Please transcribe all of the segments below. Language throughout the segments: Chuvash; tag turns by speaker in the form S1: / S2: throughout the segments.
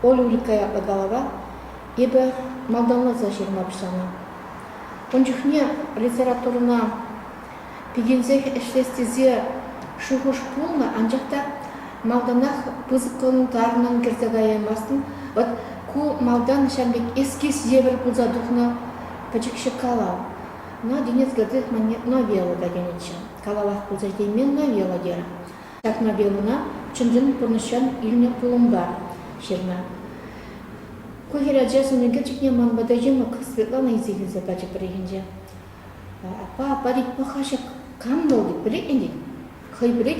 S1: Оля Улькка ятлӑ калава эпӗ малтанласа ҫырма пуҫланӑ. Ун чухне литературӑна пикенсех ӗҫлес тесе шухӑш пулнӑ, анчах та малтанах пысӑклантарнӑн кӗрсе каяймастӑн. Вӑт ку малтан ҫam пек эскиз евӗр пулса тухнӑ пӗчӗкҫӗ калав. Надинец кӗртес мӑнне Новелла та тенӗччӗ. Калалах пулса ҫитеймен новелла терӗ. Ҫак новеллӑна чӑн-чӑн пурнӑҫран илнӗ пулӑмпа ҫырнӑ. Ку хӗр ача сӑн ӳкерчӗкне ман пата йӑмӑк Светлана илсе килсе пачӗ пӗррехинче. Аппа, аппа тет, паха ҫак кам вӑл тет, пӗлет ӗнтӗ. Хӑйпӗрех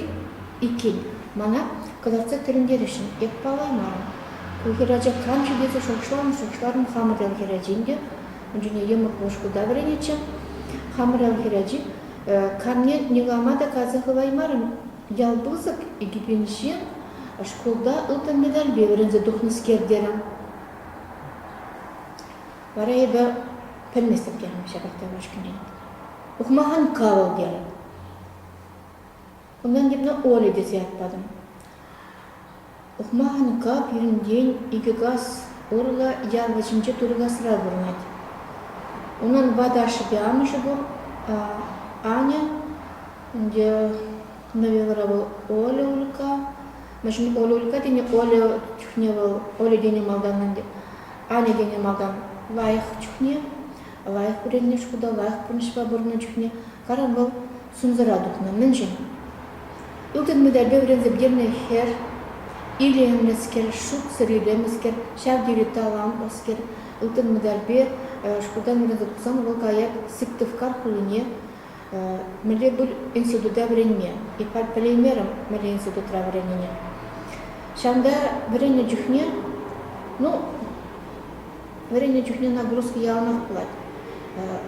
S1: иккен, мана кӑтартса тӗлӗнтересшӗн эп палламарӑм. Ку хӗрача кам-ши тесе шухӑшларӑм-шухӑшларӑм. Хамӑр ял хӗрачин те ун чухне йӑмӑк пушкӑлта вӗренетчӗ. Хамӑр ял хӗрачи камне никама та каласа хываймарӑм. Ял пысӑк, икӗ пенҫе. Шкулта ылтӑн медальпе вӗренсе тухнӑскер терӗм. Вара эпӗ пӗлместӗп терӗм ҫапах та ушкӑнрен. Ухмахан кал терӗм. Унтан тепне Оля тесе ят патӑм. Ухмахӑн кап йӗрӗнчен икӗ кас урлӑ ял вӗҫӗнче туркасра пурӑнать. Унӑн ватӑ ашшӗпе амӑшӗ пур. Аня, ӗнтӗ новеллӑра вӑл Оля Улька. Мӗншӗн Оля Улька тени Оля чухне вӑл Оля тенӗ малтан ӗнтӗ. Аня тенӗ малтан лайӑх чухне. лайӑх вӗреннӗ шкута лайӑх пурнӑҫпа пурӑннӑ чухне карап вӑл сумсӑра тухнӑ. Мӗншӗн? Ылтӑн медальпе вӗренсе пӗтернӗ хӗр илемлӗскер, шутсӑр илемлӗскер, ҫав тери талантлӑскер. Ылтӑн медальпе шкултан вӗренсе тухсан вӑл каять Сыктывкар хулине мӗнле пуль института вӗренме. И пӗлеймерӗм мӗнле институтра вӗреннине. Ҫавӑнта вӗреннӗ чухне, ну, Вӗреннӗ чухне нагрузка яланах пулать.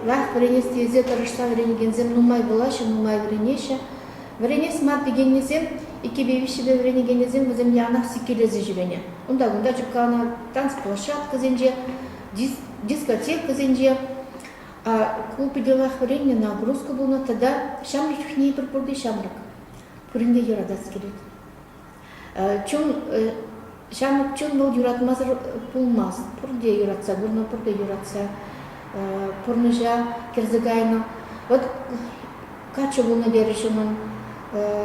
S1: Лайӑх вӗренес тесе тӑрӑшса вӗренекенсем нумай вулаҫҫӗ, нумай вӗренеҫҫӗ. Вӗренес мар текеннисем, иккӗпе виҫҫӗпе вӗренекенӗсем вӗсем яланах сиккелесе ҫӳренӗ. Унта-кунта чупкаланӑ танцплощадкӑсенче, дискотекӑсенче ку питӗлах вӗреннӗ, нагрузка пулнӑ тата ҫамрӑк чухне эпир пурте ҫамрӑк. Пурин те юратас килет. чун ҫамӑк чун вӑл юратмасӑр пулмасть. Пурте юратса курнӑ, пурте юратса пурнӑҫа кӗрсе кайнӑ. Вот каччӑ пулнӑ терӗҫ унӑн.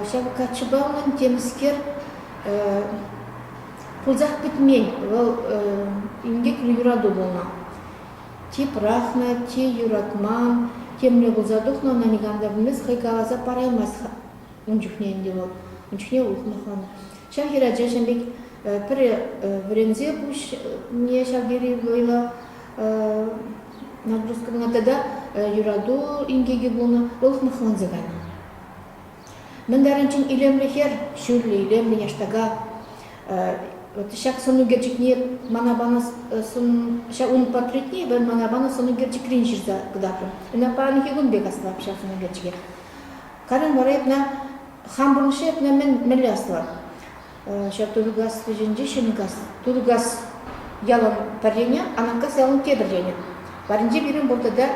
S1: Ҫав каччӑпа унӑн темӗскер пулсах пӗтмен. Вӑл инкеклӗ юрату пулнӑ. Чи пӑрахнӑ, чи юратман, темле пулса тухнӑ ӑна никам та пӗлмест, хӑй каласа параймасть Ун чухне ӗнтӗ вӑл, ун чухне ухмахланӑ. Ҫав хӗрачаҫӑн пек пӗр вӗренсе пуҫне ҫав тери вӑйлӑ нагрузка пынӑ тата юрату инкекӗ пулнӑ, ухмахланса кайнӑ. Мӗн тарӑнччен илемлӗ хӗр, ҫӳллӗ илемлӗ яштака. Вот ҫак сӑн ӳкерчӗкне мана панӑ сӑн, ҫав ун портретне эпӗ мана панӑ сӑн ӳкерчӗкрен ҫырса кӑтартрӑм. Ӑна паянхи кун пек астӑвап ҫав сӑн ӳкерчӗке. Карен вара эпне хам пурнӑҫа эпне мӗнле аслӑ? Ҫав Тургас ӗҫӗнче Ҫӗнкас, Тургас ялӑн пӗренӗ, Анаккас ялӑн тепӗренӗ. Паринче пирӗн пур тата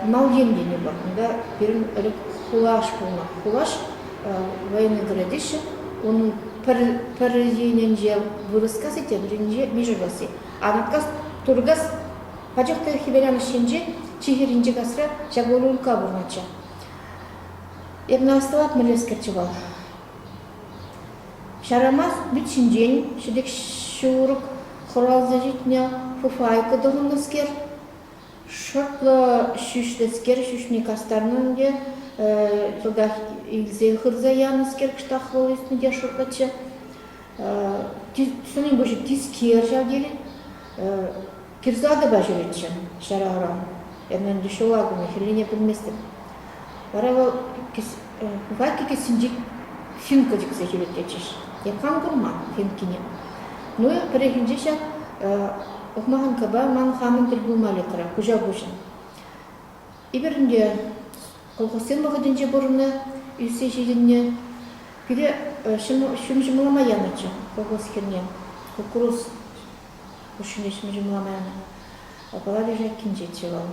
S1: Малйин тени пур. Кунта пирӗн хулаш пулнӑ. Хулаш Военноград теҫҫӗ. Унӑн пӗр енӗнче вырӑскаси, тепӗр енӗнче мишеркаси. Анаккас, Тургас Пачӑхка хӗверанӑш енче чи хӗрринчи касра ҫак Улюлка пурӑнатчӗ. Эрна ӑсталат мӗнлескерччӗ вӑл. Ҫарамас вӗт ҫинчен ҫӗтӗк ҫурӑк хуралса ҫитнӗ фуфайка тӑхӑннӑскер, шӑплӑ ҫӳҫлӗскер ҫӳҫне кастарнӑ ӗнтӗ, йӑлтах илсе хырса янӑскер кӑштахлӑ ӳснӗ те шӑртлатчӗ. Сӑнӗ пуҫӗ тискер ҫав тери. Кирсатӑпа ҫӳретчӗ ҫара ӑран. Эпӗ ӗнтӗ ҫула кӗме хӗррине пӗлместӗп. Вара вӑл Катя кӗсйинчи Фимка чиксе ҫӳрет тетчӗҫ. Те кам курман Фимкине? Ну, пӗррехинче ҫак ухмаханкӑпа ман хамӑн тӗл пулма летрӗ куҫа куҫӑн. Эпир ӗнтӗ колхозсен вӑхӑтӗнче пурӑннӑ, ӳссе ҫитӗннӗ. Пире ҫум ҫумлама янӑччӗ колхоз хирне куккурус. Куҫҫуль ӗҫме ҫумламан. Калаҫу ҫак кинчеччӗ вӑл.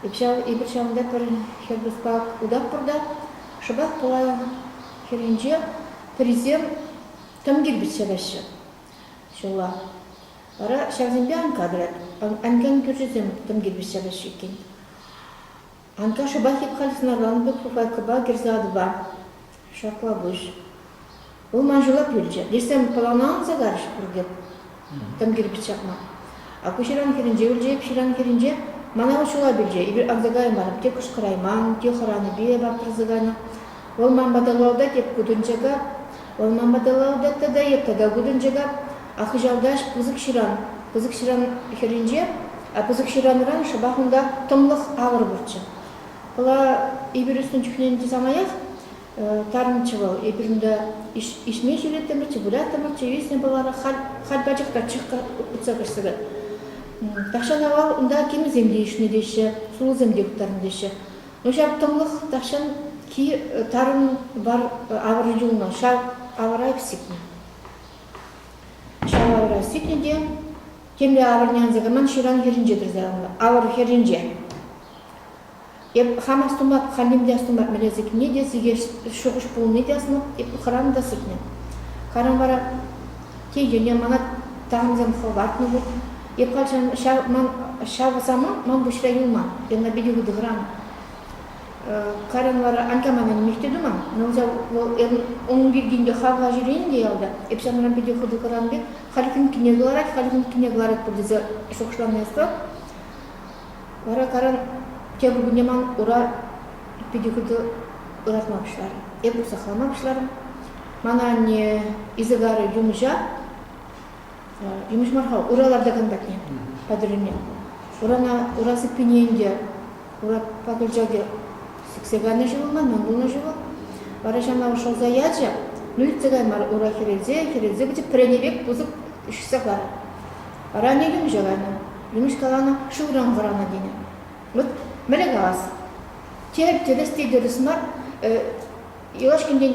S1: Эп ҫав, эпир ҫавӑнта пӗр хӗр пушпа утатпӑр та шӑпах пулай хӗр енче пӗрисем тӑм кирпӗччӗ леҫҫӗ ҫулла. Вара ҫавсемпе анка тӑрать. Анкан кӳршӗсем тӑм кирпӗч ҫапаҫҫӗ иккен. Анташӑпа тек халь сӑнакан вут кукайкӑпа кӗрсе атӑпа ҫакла пуҫ улма ҫулап юлчӗ. Лешсем пӑлана анса карӗҫ пур тек, тӑм кирпӗч ҫакма. Акуҫыран хӗрӗнче ӳлчӗ, ҫыран хӗрӗнче мана вӑл ҫулап илчӗ. Эпир анса каймарӑм, те кӑшкӑрайман, те хӑранипе ваптарса кайнӑ. Вӑл ман пата лауда теп кутӑнчӑка, вӑл ман пата лауда тата эп тата кутӑнчӑка, а хыҫалтаҫ пысӑк ҫыран, пысӑк ҫыран хӗрринче, а пысӑк ҫыранран шӑпах унта тӑмлӑх авӑр пурччӗ. Пала, эпир ӳснӗ чухнен те самаях тарӑнччӗ вӑл. Эпир унта ишме ҫӳреттӗмӗрччӗ, выляттӑмӑрччӗ, виснӗ пӑвара халь пачах та чӑхка утса каҫса кать. Тахҫан авал унта кимӗсем те ишнӗ теҫҫӗ, сулӑсем те хыптарнӑ теҫҫӗ. Ҫаптӑмлӑх тахҫан ки тарӑн вар авӑр юлнӑ, ҫав авӑра сикнӗ. Ҫав авӑра сикнӗ те темле авӑрне анса кайман ҫыран хӗрринче тӑрса ларнӑ, авӑр хӗрринче. Эп хам астумап, халлим те астумап, мӗнле сикнине те, сикес шухӑш пулни те асмап, эп хӑрам та сикнӗ. Харам вара те йӗне мана тахӑнсем хӑватнӑ вӑл. Эп калчан ҫав самант ман пуҫра юлман. Яна питӗ хытӑхран. Карен вара Анькаманен мехте туман. Но вӑл ун пиркинде хавла ҫӳрен те ялта. Эп санран питӗ хытӑхран пек, халь кунккине кӑларать, халь кунккине кӑларатпӑр тесе шухӑшлани ӑстал. Вара Карен тепӗр кунне ман ура питӗ хытӑ ыратма пуҫларӗ. Эп усахлама пуҫларӑм. Мана анне Изагарӑ юмӑҫа Юмӑҫ мар-ха, ура лартакан патне, патӑррине. Урана, ура сыппине ӗнтӗ, ура пакӑлчаки сиксе кайнӑ ҫул ман, мӗн пулнӑ ҫул. Вара ҫавна шӑлса ячӗ, ну иртсе кай мар, ура хӗрелсе, хӗрелсе пӗчӗк пӗрене пек пысӑк ишсе кайрӗ. Вара ӗне юмӑҫа кайнӑ. Юмӑҫ каланӑ, шывран вӑранӑ тенӗ. Вӑт, мӗне калас? Терӗп те тӗрӗс те тӗрӗс мар, юлашкинчен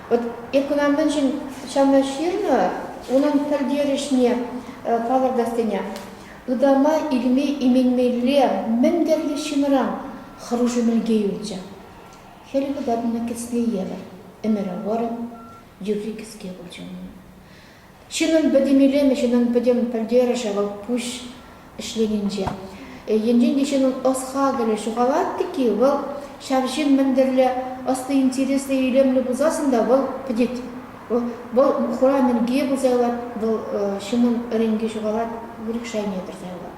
S1: Вӑт эко мӗншӗн ҫавна ҫырнӑ, унӑн пӗлтерӗшне палӑртассине. Ытама илме-именмелле мӗн тӗрлӗ ҫынран хӑрушӑ-мӗлке юлчӗ. Хӗл кӑтартнӑ кӗсне евӗр ӗмӗр вӑрӑм, юрри кӗске пулчӗ унӑн. Ҫынӑн пӗтӗм илемӗ, ҫынӑн пӗтӗм пӗлтерӗшӗ вӑл пуҫ ӗҫленинче. Енчен те ҫынӑн ӑс-хакӑлӗ ҫухалать-тӗк-и, вӑл ҫав ҫын мӗн тӗрлӗ ӑслӑ, интереслӗ, илемлӗ пулсассӑн та вӑл пӗтет. Вӑл хура мӗнке пулса юлать, вӑл ҫынӑн ӗренки ҫухалать, выльӑх шайне кӗрсе юлать.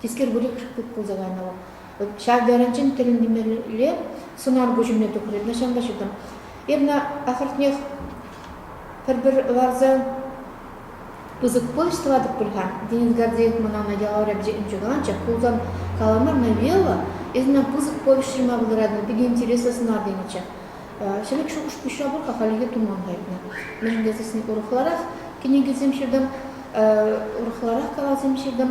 S1: Тискер выльӑх пек пулса кайнӑ вӑл. Вӑт ҫав тарӑнччен тӗлӗнмелле сунар куҫӑмне тухрӗ ҫантаҫутӑм. Ирна ахӑртнех пӗр-пӗр ларса. Пысӑк пуҫ тӑватӑп пуль-ха, Денис Гордеев мӑнана ялав рябчӗ ӗнчӗкаланчӑк пулсан, калама новелла Ирна пысӑк повеҫ ҫырма пултаратӑн питӗ интереслӗ сӑнар тенӗччӗ. Ҫӗлӗк шухӑш-пуҫа пур-ха хальлӗхе туман кайнӑ. Мӗншӗн тесен урӑхларах кӗнекесем ҫыртӑм, урӑхларах калавсем ҫыртӑм.